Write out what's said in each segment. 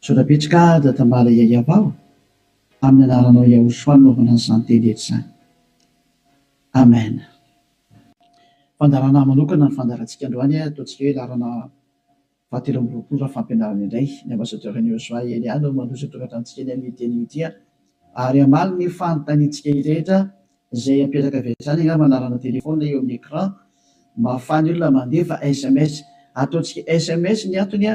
Misaotra betsy ka Dadambala Yayabao amin'ny anaranao Yahoshua anaovana an'izany teny eto izany. Amen. Fandaharana manokana ny fandaharantsika androany a, ataontsika hoe laharana faha telo amby roapolo raha fampianarana indray. Ny Ambassadeur an'i Yosua Elia no manohy izao tokantranotsika eny amin'io teny io ity a. Ary hamaly ny fanontaniantsika rehetra izay apetraka avy hatrany angamba ny laharana téléphone eo amin'ny écran mba ahafahan'ny olona mandefa sms. Ataontsika sms ny antony a.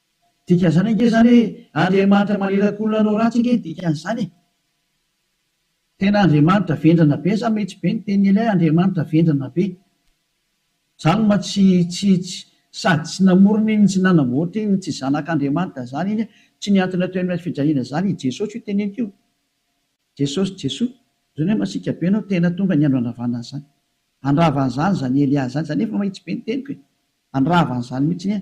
Dikan'izany ange izany hoe Andriamanitra maniraka olona hanao ratsy ange ny dikan'izany e! Tena Andriamanitra vendrana be sa mety be ny tenin'ilay Andriamanitra vendrana be? Zany ma tsy tsy tsy sady tsy namorona iny tsy nanamboatra iny tsy zanak'Andriamanitra zany iny a! Tsy ny antony atao eny fijaliana zany i Jesosy io teneniko io. Jesosy Jesoa zany hoe masiaka be anao tena tonga ny andro handravana an'izany. Handrava an'izany zany Elia zany zany efa mahitsy be ny teniko e! Handrava an'izany mihitsy anie.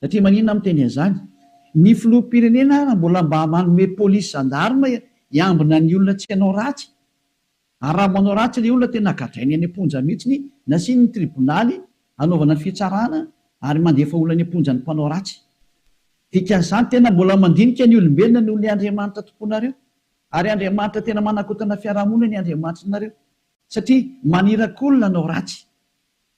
Satria maninona aho miteny an'izany? Ny filoham-pirenena ary mbola mba manome polisy zandarma hiambina ny olona tsy hanao ratsy? Ary raha manao ratsy ilay olona tena gadrainy any am-ponja mihitsy, nasiany ny tribonaly hanaovana ny fitsarana ary mandefa olona any am-ponja ny mpanao ratsy. Dikan'izany tena mbola mandinika ny olombelona noho ilay Andriamanitra tomponareo. Ary Andriamanitra tena manakotana fiarahamonina ny Andriamanitrinareo. Satria manirakolona hanao ratsy.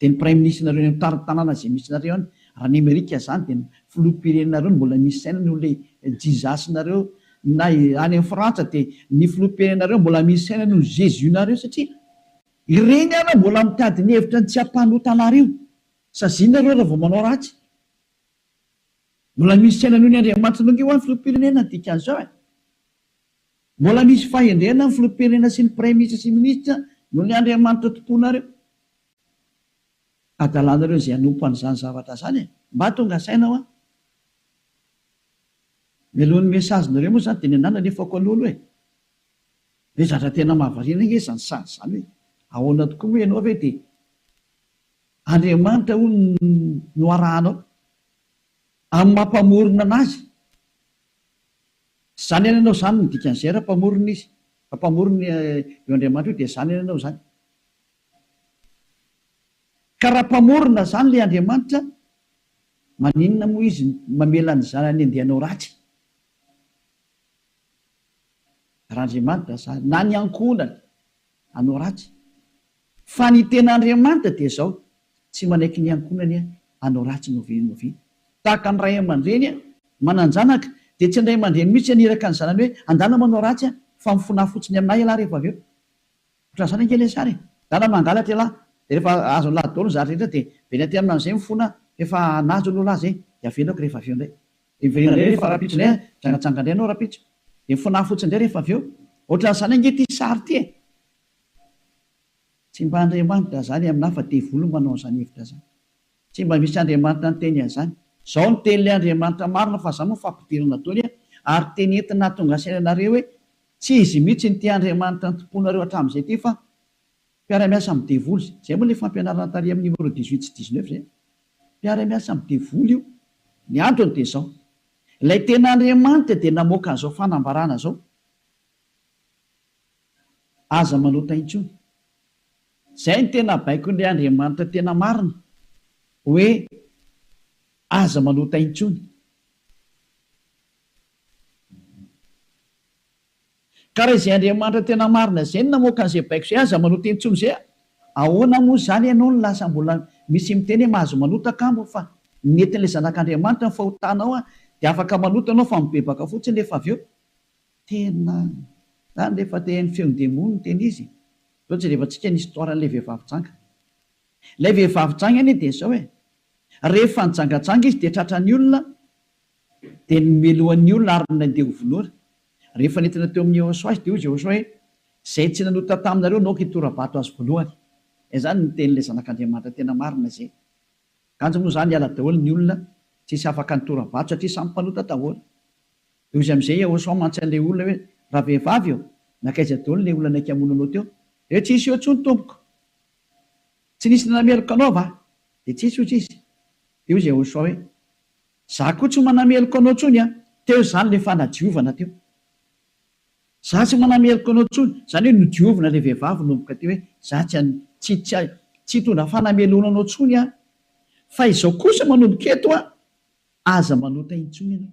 Dia ny praiminisitrinareo eny amin'ny tanàna izay misy nareo any raha ny amerika izany dia ny filoham-pirenenareo no mbola misy saina noho ilay jizasinareo na any amin'ny frantsa dia ny filoham-pirenenareo mbola misy saina noho ny jesus nareo satria ireny ary mbola mitady ny hevitra ny tsy hampanota anareo saziana ireo raha vao manao ratsy mbola misy saina noho ny andriamanitra nonge hoany filoham-pirenena ny dikan'izao e. Mbola misy fahendrena ny filoham-pirenena sy ny praiminisitra sy ny minisitra noho ny Andriamanitra tomponareo. Adalanareo izay hanompo an'izany zavatra izany e! Mba tonga saina hoa. Mialoha ny message-nareo moa izany dia ny anah nalefako aloha aloha e! Ve zatra tena mahavariana ange izany sazy izany hoe ahoana tokoa moa ianao ve dia Andriamanitra hono no arahanao amin'ny maha mpamorona anazy? Tsy zany any anao zany ny dikan'izay raha mpamorona izy, raha mpamorona io Andriamanitra io dia zany any anao zany. Ka raha mpamorona zany ilay Andriamanitra, maninona moa izy mamela ny zanany andeha hanao ratsy? Raha Andriamanitra zany, na ny ankohonany hanao ratsy. Fa ny tena Andriamanitra dia izao, tsy manaiky ny ankohonany hanao ratsy novenoviana. Tahaka ny ray aman-dreny manan-janaka, dia tsy ny ray aman-dreny mihitsy haniraka ny zanany hoe andala manao ratsy fa mifonaha fotsiny amin'ahy ialahy rehefa avy eo. Ohatran'izany ange ilay sary e! Dala mangalatra ialahy, dia rehefa azony lahy daholo ny zary rehetra dia very aty aminà an'izay mifona efa hanaja olo lahy izay, dia avelako rehefa avy eo indray. Dia miverina indray rehefa rahampitso indray, mijangajanga indray ianao rahampitso, dia mifonaha fotsiny indray rehefa avy eo. Ohatran'izany ange ity sary ity e! Tsy mba Andriamanitra zany aminah fa devoly manao an'zany hevitra zany. Tsy mba misy Andriamanitra niteny an'zany. Zao ny tenin'le Andriamanitra marina fa za moa fa ampidirina dôly a! ary teny entina hahatonga saina anareo hoe tsy izy mihitsy no tia Andriamanitra nitompoanareo hatram'zay ty fa mpiara-miasa amin'ny devoly zay. Zay moa le fampianarana tary amin'ny numéro dix huit sy dix neuf zay. Mpiara-miasa amin'ny devoly io. Ny antony dia zao. Ilay tena Andriamanitra dia namoaka an'zao fanambarana zao. Aza manota intsony. Zay no tena baikon'ilay Andriamanitra tena marina hoe aza manota intsony. Ka raha izay Andriamanitra tena marina zay no namoaka an'izay baiko zay aza manota intsony zay ahoana moa zany ianao no lasa mbola misy miteny hoe mahazo manota angamba fa netin'ilay zanak'Andriamanitra ny fahotanao dia afaka manota ianao fa mibebaka fotsiny rehefa avy eo. Tena zany le fa te haino feon-demony ny tena izy e! Zao jerevantsika ny histoire an'ilay vehivavy janga. Ilay vehivavy janga anie dia izao e, rehefa nijangajanga izy dia tratran'ny olona dia nomelohan'ny olona ary nandeha ho vonoina. Rehefa nentina teo amin'i Jehosoa izy dia hoy Jehosoa hoe, Izay tsy nanota taminareo naoka hitora-bato azy voalohany. Izay zany ny tenin'ilay Zanak'Andriamanitra tena marina izay. Kanjo moa zany hiala daholo ny olona, tsy hisy afaka nitora-bato satria samy mpanota daholo. Dia hozy amizay ao sao mantsy anle olona hoe raha vehivavy eo nankaiza daholo le olona naika hamono anao teo dia tsisy eo tsony tompoko tsy nisy nanameloka anao va dia tsisy hozy izy dia hozy ao sao hoe za koa tsy manameloka anao tsony an teo zany le fanadiovana teo za tsy manameloka anao tsony zany hoe nodiovina le vehivavy nomboka teo hoe za tsy an tsy tsy tsy hitondra fanamelohana anao tsony an fa izao kosa manomboka eto an aza manota intsony ianao.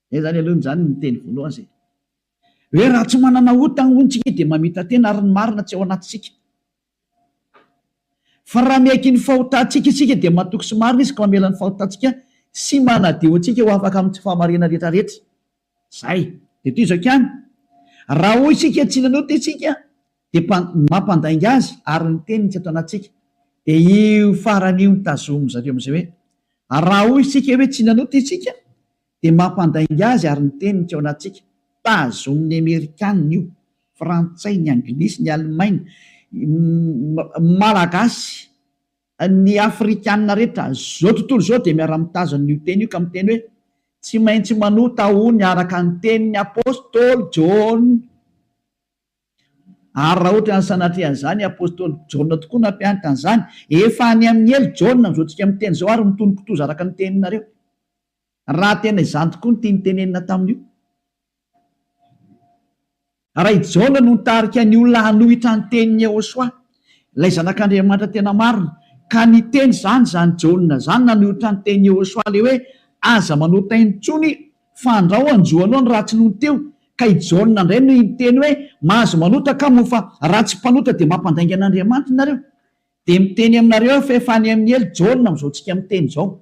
Zay zany aloha zany ny teny voalohany zay hoe raha tsy manana ota hono tsika dia mamita tena ary ny marina tsy ao anatintsika. Fa raha miaiky ny fahotantsika isika dia matoky sy marina izy ka mamela ny fahotantsika sy manadio antsika ho afaka amin'ny tsy fahamariana rehetra rehetra. Zay. Dia toy izao ihany, raha hoy isika tsy nanota isika dia mpa, mampandainga azy ary ny teniny tsy ato anatintsika. Dia io farany io no tazomin-dry zareo amin'izay hoe raha hoy isika hoe tsy nanota isika Dia mampandainga azy ary ny teniny tsy ao anatintsika. Tazonin'ny Amerikana io, Frantsay, ny Anglisy, ny Alemaina, ny Malagasy, ny Afrikana rehetra izao tontolo izao dia miara-mitazona an'io teny io ka miteny hoe, Tsy maintsy manota hono araka ny tenin'ny Apostoly Jaona. Ary raha ohatran'ny sanatria an'izany i Apostoly Jaona tokoa nampianatra an'izany, efa any amin'ny helo Jaona amin'izao tsika miteny izao ary mitonon-kitoza araka ny teninareo. Raha tena izany tokoa ny tiany tenenina tamin'io, raha i Jaona no nitarika ny olona hanohitra ny tenin'i Yehosua, ilay Zanak'Andriamanitra tena marina, ka niteny izany izany Jaona izany nanohitra ny tenin'i Yehosua ilay hoe, Aza manota intsony fa andrao hanjo anao ny ratsy nony teo, ka i Jaona indray no niteny hoe, Mahazo manota kamo ho fa raha tsy mpanota dia mampandainga an'Andriamanitra ianareo. Dia miteny aminareo aho fa efa any amin'ny helo, Jaona amin'izao tsika miteny izao.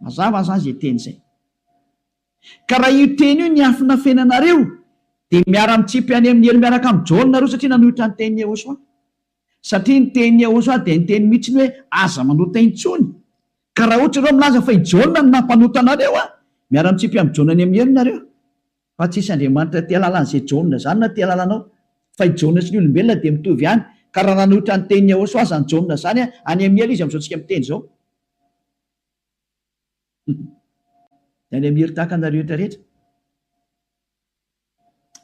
Mazava aza izay teny izay. Ka raha io teny io niafina feno anareo dia miara mitsipy any amin'ny helo miaraka amin'i Jaona nareo satria nanohitra ny tenin'i Yehosua. Satria ny tenin'i Yehosua dia niteny mihitsy ny hoe aza manota intsony. Ka raha ohatra ianareo milaza fa i Jaona no nampanota anareo an! miara mitsipy amin'i Jaona any amin'ny helo nareo. Fa tsisy Andriamanitra aty alalan'izay Jaona zany na ty alalanao. Fa i Jaona sy ny olombelona dia mitovy ihany. Ka raha nanohitra ny tenin'i Yahoswa aza ny Jaona zany an, any amin'ny hela izy amin'izao tsika miteny izao. Dia any amin'ny hery tahaka anareo rehetra rehetra.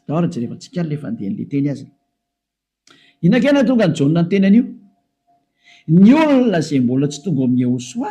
Tao ary jerevantsika ary le fandehan'le teny azy. Inona kay nahatonga an'i Jaona niteny an'io? Ny olona izay mbola tsy tonga ao amin'i Yahoswa.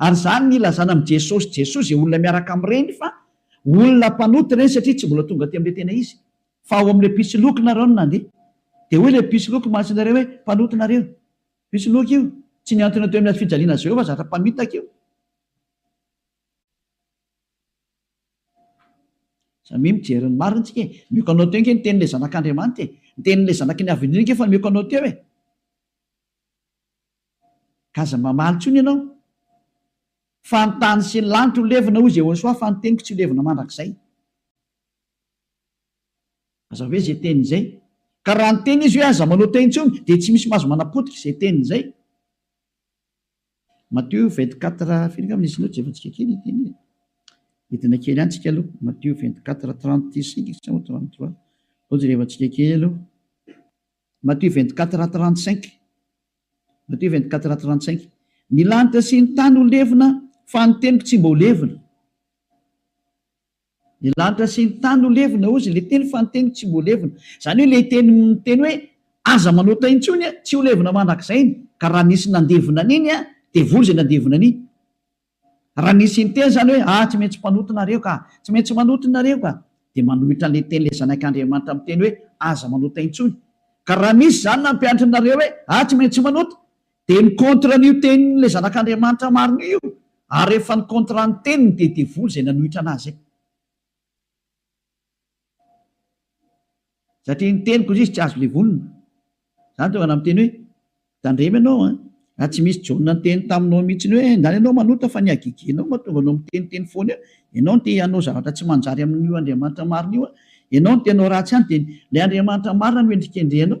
Ary izany no ilazana amin'i Jesosy Jesosy izay olona miaraka amin'ireny fa olona mpanota ireny satria tsy mbola tonga aty amin'ilay tena izy fa ao amin'ilay mpisoloky nareo no nandeha. Dia hoy ilay mpisoloky masin'ireny hoe, Mpanota nareo. Mpisoloky io. Tsy nihantona teo amin'ny hazofijaliana Jehovah zatra mpamitaka io. Samia mijery ny marina isika e. Mioko anao teo ange ny tenin'ilay Zanak'Andriamanitra e. Ny tenin'ilay Zanaky ny Avenir ange efa mioko anao teo e. Aza mamaly intsony ianao fa ny tany sy ny lanitra ho levona hoy Jehosoa fa ny teniko tsy ho levona mandrakizay. Aza ve izay teny izay. Ka raha niteny izy hoe aza manota intsony dia tsy misy mahazo manapotika izay teny izay. Matio 24 firy angamba nisy loatra efantsika kely io teny io. Hidina kely any tsika aloha. Matio 24 35 sa 33. Loatra rehefa tsika kely aloha. Matthieu vingt quatre a trente cinq Matthieu vingt quatre a trente cinq Ny lanitra sy ny tany ho levona fa ny teniko tsy mba ho levona Ny lanitra sy ny tany ho levona hozy ilay teny fa ny teniko tsy mba ho levona Izany hoe ilay teny miteny hoe aza manota intsony tsy ho levona mandrakizay ny ka raha nisy nandevona an'iny dia voa izay nandevona an'iny Raha nisy inteny izany hoe, Ah, tsy maintsy mpanota nareo ka! Tsy maintsy manota nareo ka! dia manohitra an'ilay teny ilay Zanak' Andriamanitra miteny hoe, Aza manota intsony. Ka raha misy izany nampianatra anareo hoe, Ah, tsy maintsy manota! dia ny contre an'io tenin'ilay Zanak' Andriamanitra marina io, ary rehefa ny contre ny teniny dia devoly izay nanohitra an'azy izay. Satria ny teniko indrisy tsy azo levonina. Izany tonga namiteny hoe, Tandremo ianao an! Raha tsy misy John niteny taminao mihitsiny hoe, Ndany ianao manota fa ny hagigianao mahatonga anao miteniteny foana eo, ianao no te hanao zavatra tsy manjary amin'io Andriamanitra marina io an! Ianao no te hanao ratsy ihany dia ilay Andriamanitra marina no hendrikendrehanao.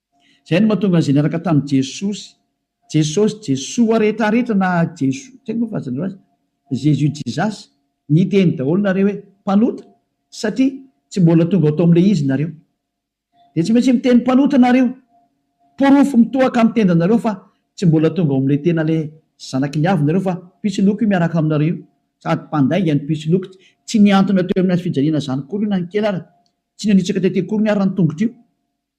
Izay no mahatonga an'izay niaraka tamin'i Jesosy, Jesosy, Jesoa rehetra rehetra na Jesoa, tsy haiko moa filazanareo azy, Jésus, Jesus, niteny daholo nareo hoe mpanota satria tsy mbola tonga ho tao amin'ilay izy nareo. Dia tsy maintsy miteny mpanota nareo. Porofo mitohaka amin'ny tendanareo fa tsy mbola tonga ao amin'ilay tena ilay zanaky ny avy nareo fa mpisoloky io miaraka aminareo io sady mpandainga ny mpisoloky. Tsy nihantona teo amin'ny hazo fijaliana izany akory io na ny kely ary. Tsy nanitsaka tety akory ny ary ny tongotra io.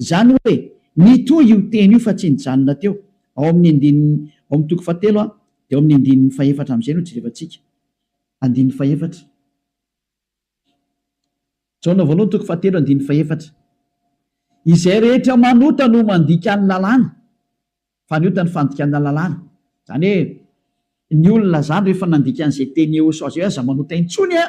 Izany hoe, mitohy io teny io fa tsy nijanona teo, ao amin'ny andininy, ao amin'ny toko fahatelo a, dia ao amin'ny andininy fahefatra amin'izay no jerevantsika. Andininy fahefatra. Jaona voalohany toko fahatelo andininy fahefatra. Izay rehetra manota no mandika ny lalàna, fa ny ota ny fandikana lalàna. Izany hoe, ny olona izany rehefa nandika an'izay teny eosao izay hoe aza manota intsony a!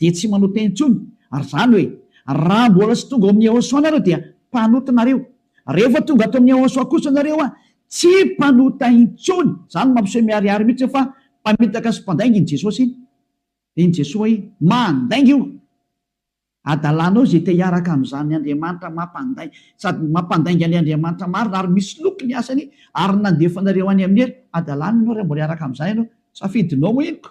dia tsy manao teny intsony, ary izany hoe raha mbola tsy tonga ao amin'ny Yahoshuah nareo dia mpanota nareo, rehefa tonga ato amin'ny Yahoshuah kosa nareo a, tsy mpanota intsony, izany mampiseho miharihary mihitsy hoe fa mpamitaka sy mpandainga iny Jesosy iny, dia iny Jesoa iny mandainga io adalanao izay te hiaraka amin'izany Andriamanitra mampandai, sady mampandainga ilay Andriamanitra marina ary misoloky ny asany ary nandefa anareo any amin'ny helo, adalana ianao raha mbola hiaraka amin'izany ianao, safidinao moa iny ko,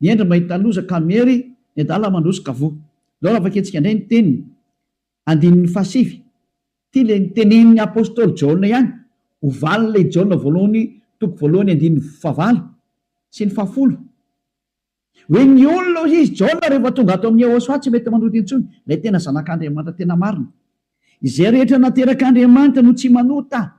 Miendry mba hita loza ka miery ny adala mandroso ka voa. Izao raha vakiantsika indray ny teniny, andininy fahasivy. Ity ilay notenenin'ny apostoly Jaona ihany, ho valin'ilay Jaona voalohany toko voalohany andininy fahavalo sy ny fahafolo. Hoe ny olona hoy izy, Jaona rehefa tonga ato amin'i Yehosua tsy mety manota intsony, ilay tena Zanak'Andriamanitra tena marina. Izay rehetra naterak'Andriamanitra no tsy manota.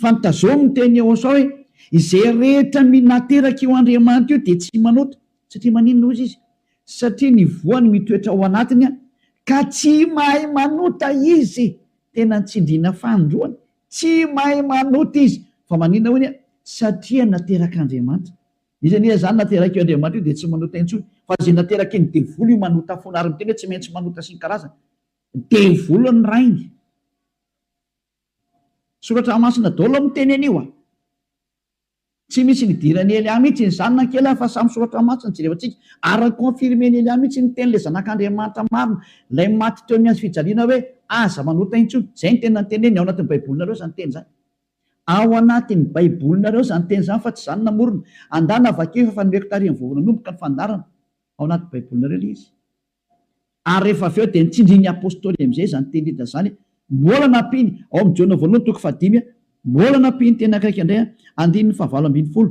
Fantazoa ny tenin'i Yehosua hoe, Izay rehetra minateraka io Andriamanitra io dia tsy manota. Satria maninona hoy izy? Satria ny voany mitoetra ao anatiny, ka tsy mahay manota izy. Tena tsindriana fanindroany. Tsy mahay manota izy. Fa maninona hoy izy? Satria naterak'Andriamanitra. Iza anie izany naterak'io Andriamanitra io dia tsy manota intsony? Fa izay naterakin'ny devoly io manota foana, ary miteny hoe tsy maintsy manota sy ny karazany. Devoly ny rainy. Soratra masina dolo miteny anio a! Tsy misy nidiran'i Elia mihitsy iny zany na kely ary fa samy soratra masina no jerevantsika ary confirmen'i Elia mihitsy ny tenin'ilay zanak'Andriamanitra marina, ilay maty teo amin'ny hazo fijaliana hoe aza manota intsony, izay no teny nanteneniny, ao anatin'ny baibolinareo izany teny izany. Ao anatin'ny baibolinareo izany teny izany fa tsy izaho no namorona, andana vakio fa efa nomeko tarehin'ny vovon'anomboka ny fandaharana, ao anatin'ny baibolinareo ilay izy. Ary rehefa avy eo dia nitsindrin'ny Apostoly amin'izay izany teny Lida izany, Mbola nampiany, ao amin'ny Jaona voalohany toko fahadimy, mbola nampiany teny akaiky indray, andininy fahavalo ambin'ny folo,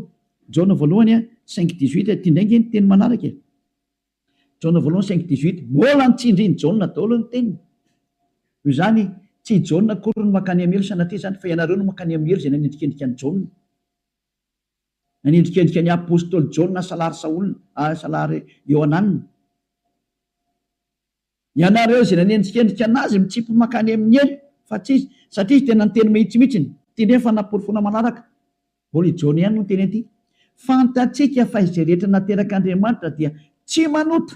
Jaona voalohany cinq dix huit, ity indray ange ny teny manaraka e, Jaona voalohany cinq dix huit, mbola nitsindrin'i Jaona daholo ny teniny, noho izany tsy i Jaona akory no mankany amin'ny helo sanatria izany fa ianareo no mankany amin'ny helo izay nanendrikendrika an'i Jaona. Nanendrikendrika ny apostoly Jaona salary Saola ary salary Iohanana. Ianareo izay nanendrikendrika an'azy mitsipy mankany amin'ny helo fa tsy izy, satria izy tena niteny mahitsymihitsy ny. Ity indray fa namporofoina manaraka, mbola i Jaona ihany no niteny an'ity, Fantatsika fa izay rehetra naterak'Andriamanitra dia tsy manota.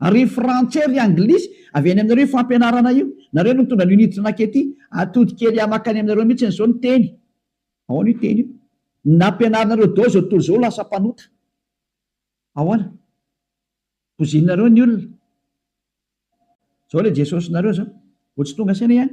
Ary frantsay ry anglisy avy any aminareo io fampianarana io, nareo no nitondra an'io niditra nakety atody kely ahy makany aminareo mitsiny zao ny teny, ahoana io teny io nampianarinareo dao zao tontolo zao lasa mpanota ahoana, bozinareo ny olona zao le Jesosy nareo zao vao tsy tonga saina ihany.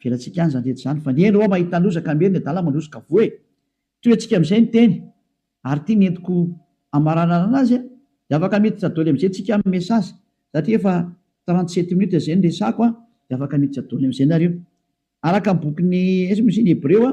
Avelantsika any izany rehetra izany fa ny eny hoa mahita loza ka miery ny adala mandroso ka voa e! Tohiantsika amin'izay ny teny ary ity ny entiko hamaranarana azy a! Dia afaka miditra doly amin'izay tsika amin'ny message satria efa trente sept minutes izay ny resako a! Dia afaka miditra doly amin'izay nareo. Araka ny bokin'i Hebreo a!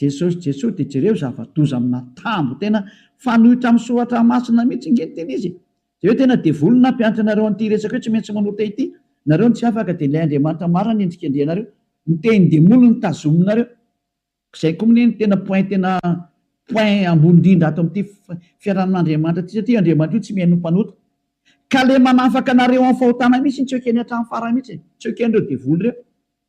Jesosy Jesosy de jereo zava-doza amina tambo tena fanoitra am soratra masina mitsy nge ny tena izy e! de hoe tena devoly ny nampianatra anareo anty resaka io tsy maintsy manota ity nareo no tsy afaka de ilay Andriamanitra marina ny endrikendrihanareo ny tehin demoly no tazominareo zay ko mne no tena point tena point ambony indrindra ato amty fiarahan Andriamanitra ty satria io Andriamanitra io tsy mihaino ny mpanota ka le manafaka anareo am fahotana mitsy tsy ekeny hatram farany mitsy e! tsy ekenreo devoly reo.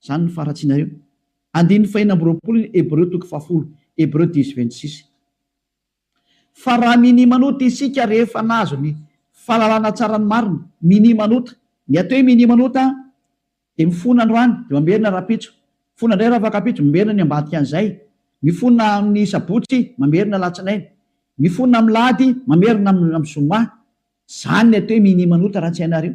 Izany no faharatsianareo. Andininy fahenina amby roapolo ny Hebreo toko fahafolo, Hebreu dix vingt six. Fa raha minimanota isika rehefa nahazo ny fahalalana tsara ny marina, minimanota, ny atao hoe minimanota dia mifona androany dia mamerina rahampitso, mifona indray rafakampitso, mamerina ny ambadikan'izay, mifona amin'ny sabotsy, mamerina alatsinainy, mifona amin'ny lahady, mamerina amin'ny zoma. Izany ny atao hoe minimanota raha tsy hainareo.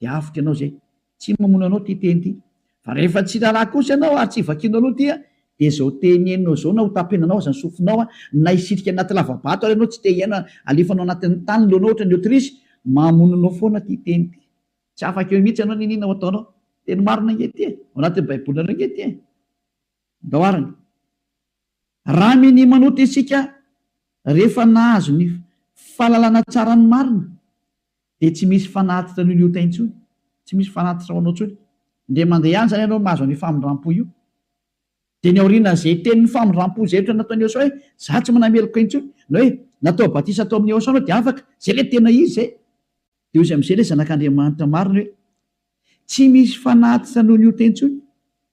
dia avotra ianao izay. Tsy mamono anao ity teny ity. Fa rehefa tsy raharaha kosa ianao ary tsy vakianao aloha ity dia izao teny henonao izao na hotapenanao aza ny sofinao na hisitrika anaty lavabato ary ianao tsy te hihaino alefanao anatin'ny tany ny lohanao ohatran'ny autruche, mamono anao foana ity teny ity. Tsy afaka eo mihitsy ianao n'inona ho ataonao. Teny marina ange ity e! Ao anatin'ny baibolinareo ange ity e! Andao arany. Raha minia manota isika rehefa nahazo ny fahalalana tsara ny marina dia tsy misy fanatitra an'io liota intsony, tsy misy fanatitra ho anao intsony. Indray mandeha any izany ianao mahazo an'io famindram-po io. Dia ny aorian'izay tenin'ny famindram-po izay ohatra nataon'i Eosaoa hoe, izaho tsy manameloka intsony, na hoe natao batisa tao amin'i Eosaoa ianao dia afaka, izay ilay tena izy izay. Dia hoy izy amin'izay ilay zanak'Andriamanitra marina hoe, Tsy misy fanatitra noho ny ota intsony.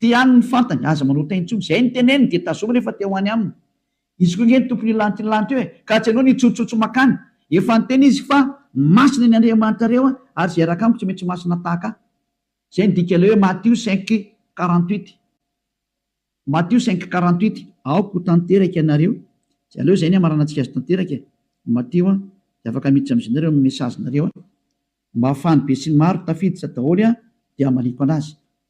Te ihany ny fantany, aza manota intsony. Izay ny teneniny dia tazomina efa te ho any aminy. Izy koa nge ny tompony io lanto io lanto io e! Ka tsy anao ny hitsotsotso makany. Efa niteny izy fa masina ny Andriamanitrareo a! ary izay hiaraka amiko tsy maintsy masina tahaka ahy. Izay ny dika ilay hoe Matio cinq quarante huit. Matio cinq quarante huit. Aoka ho tanteraka ianareo, tsy aleo izay ny hamaranantsika azy tanteraka e! Matio a! dia afaka miditra amin'izy nareo amin'ny message nareo a! Mba ahafahan'ny besinimaro tafiditra daholo a! dia hamaliako anazy.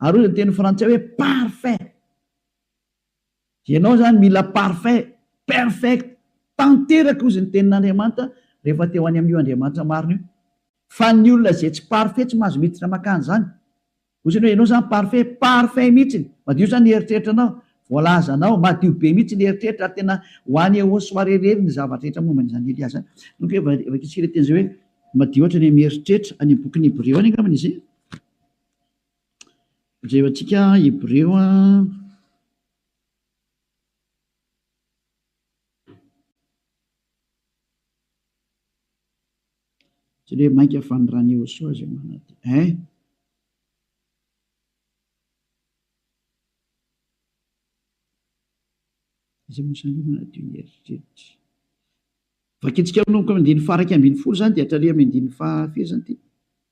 Ary hoy ny teny frantsay hoe parfait. Ianao izany mila parfait, perfect, tanteraka hozy ny tenin'Andriamanitra rehefa te ho any amin'io Andriamanitra marina io. Fa ny olona izay tsy parfait tsy mahazo miditra makany izany. Hoy izany hoe ianao izany parfait, parfait mihitsy, madio izany ny eritreritranao, voalazanao, madio be mihitsy ny eritreritra ary tena ho any au soir irery ny zavatra rehetra momba an'izany Elia izany. Donc hoe vakiantsika ilay teny izay hoe madio hatrany amin'ny eritreritra, any amin'ny bokin'ny Hebreo any angambany izay. Jereo antsika Hebreo Jereo hoe mainka fanondran'i Iehosoa izay manantena eh! izay mosan'ireo manadio ny eritreritra. Vakintsika manomboka amin'ny andininy faha iraika ambin'ny folo izany dia hatraria amin'ny andininy faha firy izany ity?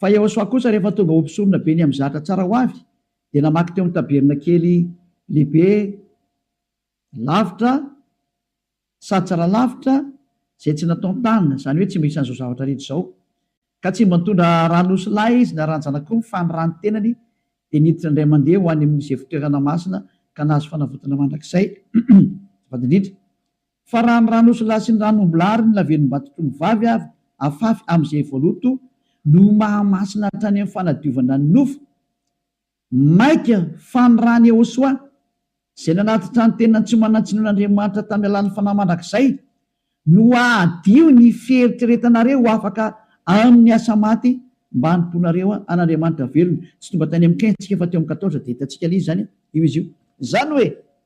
Fa Iehôsoa kosa rehefa tonga ho mpisoronabe ny amin'ny zatra tsara ho avy, dia namaky teo amin'ny tabernakely lehibe lavitra sady tsara lavitra izay tsy nataon-tanana, izany hoe tsy mba isan'izao zavatra rehetra izao. Ka tsy mba nitondra ran'osilahy izy na ranjanaka akory, fa ny ran'ny tenany dia niditra indray mandeha ho any amin'izay fitoerana masina ka nahazo fanavotana mandrakizay. Azafady indrindra. Fa raha ny ran'osilahy sy ny ran'ombilahy ary ny lavenon'batoky ny vavy avy afafy amin'izay voaloto no mahamasina hatrany amin'ny fanadiovana ny nofo, maika fa ny ran'i Ehosoa, izay nanatitra ny tenany tsy manan-tsiny ho an'Andriamanitra tamin'ny alalan'ny fanahy mandrakizay, no hahadio ny fieritreretanareo ho afaka amin'ny asa maty mba hanompoanareo an'Andriamanitra velona. Tsy tonga tany amin'ny kin-tsika fa teo amin'ny quatorze dia hitantsika ilay izy izany io izy io. Izany hoe,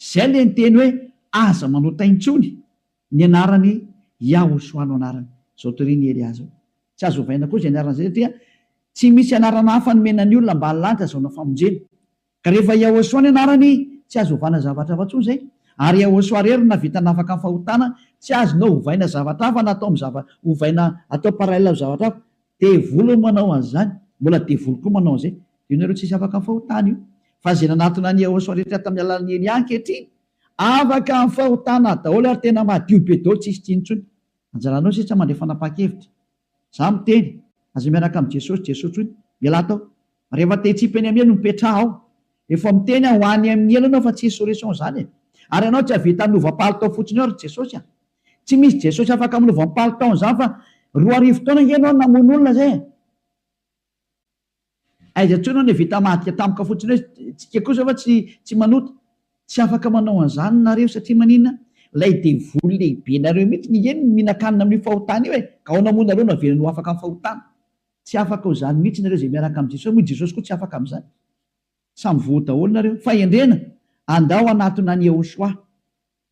Izay ilay niteny hoe aza manota intsony ny anarany Yahoshua no anarany. Izao torin' i Elia izao. Tsy azo ovaina koa izay anarana izay satria tsy misy anarana hafa nomena ny olona mba hahalany sy hazaona famonjena. Ka rehefa Yahoshua ny anarany tsy azo ovana zavatra hafa intsony izay. Ary Yahoshua irery no nahavita nafaka ny fahotana, tsy azonao ovaina zavatra hafa na atao amin'ny zava ovaina atao parallel amin'ny zavatra hafa. Devoly no manao an'izany, mbola devoly koa manao an'izay. Dia ianareo tsisy afaka fahotana io. Fa izay nanatona an'i Yehosua rehetra tamin'ny alalan'i Elia ankehitriny, afaka amin'ny fahotana daholo ary tena madio be daholo, tsisy tsy intsony. Anjaranao sisa mandray fanapahan-kevitra. Izaho miteny, aza miaraka amin'i Jesosy, Jesoa intsony. Mialà tao. Rehefa te hitsipy any amin'ny helo, mipetraha ao. Efa miteny aho, ho any amin'ny helo ianao fa tsy insurrection izany e. Ary ianao tsy hahavita hanova palitao fotsiny ao ry Jesosy a. Tsy misy Jesosy afaka amin'ny voampalo taona izany fa roa arivo taona ange ianao no namono olona izay e! Aiza intsony aho nevita mahadika tampoka fotsiny hoe tsika kosa va tsy tsy manota? Tsy afaka manao an'izany nareo satria maninona? Ilay devoly lehibenareo mihitsy no iany no mihinan-kanina amin'io fahotana io e! Ka ao namono nareo no avelany ho afaka amin'ny fahotana? Tsy afaka ho izany mihitsy nareo izay miaraka amin'i Jesosy, moa i Jesosy koa tsy afaka amin'izany? Samy voa daholo nareo. Fahendrena, andao hanatona an'i Yehoshuah.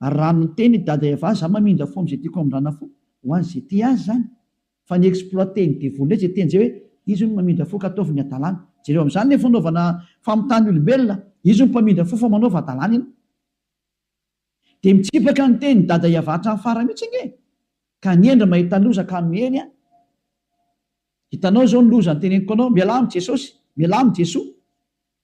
Ary raha miteny i Dada Eva za mamindra fo amzay tiako amindrana fo ho azy ze tia azy zany fa ny exploiter ny devoly ndray ze teny zay hoe izy hono mamindra fo ka ataovy ny adalana jereo amzany le fanaovana famitany olombelona izy hono mpamindra fo fa manaova adalana ianao de mitsipaka ny teny Dada Eva hatrany farany mitsy ange ka ny hendry mahita loza ka miely an hitanao zao ny loza ny teneniko anao mialà am jesosy mialà am jesoa